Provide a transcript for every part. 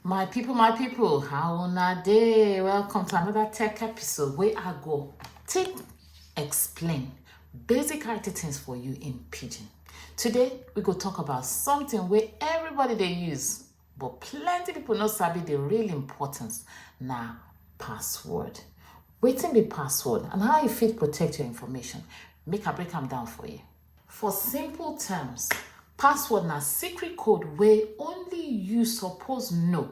My people, my people, how una day? Welcome to another tech episode where I go take explain basic IT things for you in Pidgin. Today, we go talk about something where everybody they use, but plenty people not sabi the real importance. Now, password. Waiting the password and how you fit protect your information. Make a break them down for you. For simple terms, password na secret code wey only you suppose know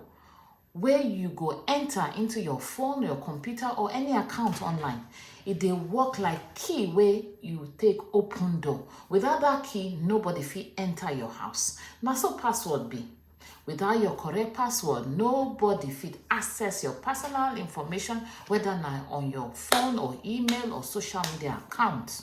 wey you go enter into your phone, your computer or any account online. E dey work like key wey you take open door. Without that key, nobody fit enter your house. Na so password be. Without your correct password, nobody fit access your personal information, whether na on your phone or email or social media account.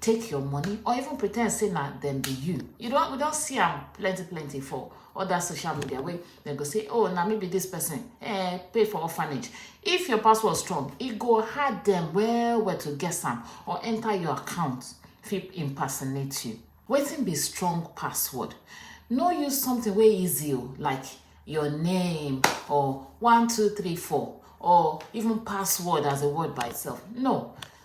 take your money or even pretend say na dem be you you don we don see am plenty plenty for other social media wey dem go say oh na me be this person eh pay for orphanage if your password strong e go hard dem well well to guess am or enter your account fit impersonate you wetin be strong password no use something wey easy o like your name or one two three four or even password as a word by itself no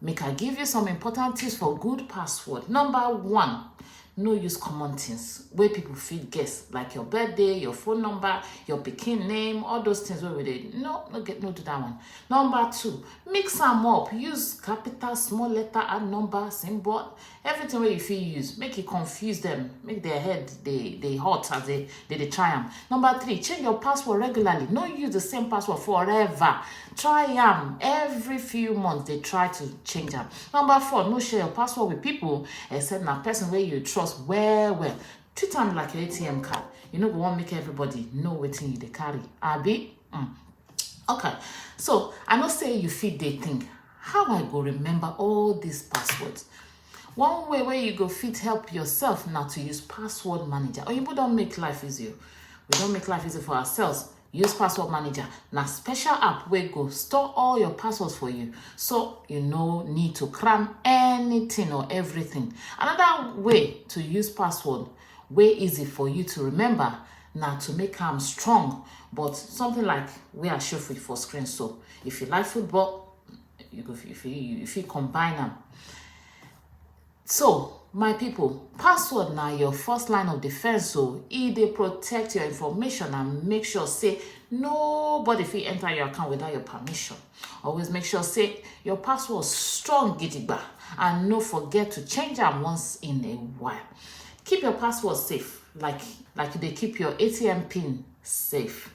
Make I give you some important tips for good password. Number one, no use common things wey people fit guess like your birthday your phone number your pikin name all those things wey we dey no no get no do that one number two mix am up use capital small letter and number symbol everything wey you fit use make e confuse them, make their head dey dey hot as they dey dey try am number three change your password regularly no use the same password forever try am every few months dey try to change am number four no share your password with people except na person wey you trust well well treat am like your atm card you no go wan make everybody know wetin you dey carry abi mm. okay so i know say you fit dey think how i go remember all these passwords one way where you go fit help yourself now to use password manager or you don't make life easier we don't make life easier for ourselves use password manager now special app where go store all your passwords for you so you no need to cram anything or everything another way to use password way easy for you to remember now to make them strong but something like we are showing for screen so If you like football, you go if you, you fit combine them. So, my people, password now your first line of defense So, oh. e they protect your information and make sure say nobody if you enter your account without your permission. Always make sure say your password strong gidigba and no forget to change them once in a while. Keep your password safe like like they keep your ATM pin safe.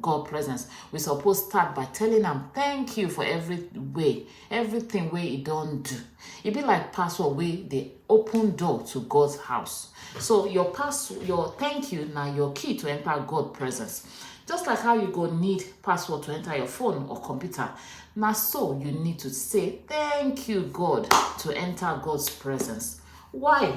God presence, we suppose start by telling am thank you for every way, everything wey e don do. E be like password wey dey open door to God's house. So your pass your thank you na your key to enter God presence. Just like how you go need password to enter your phone or computer, na so you need to say thank you God to enter God's presence. Why?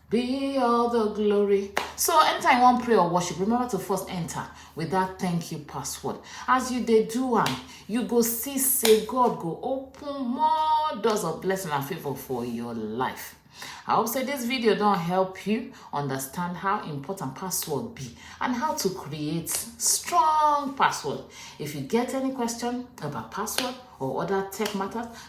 Be all the glory. So anytime you want prayer or worship, remember to first enter with that thank you password. As you they do and you go see, say God go open more doors of blessing and favor for your life. I hope say this video don't help you understand how important password be and how to create strong password. If you get any question about password or other tech matters,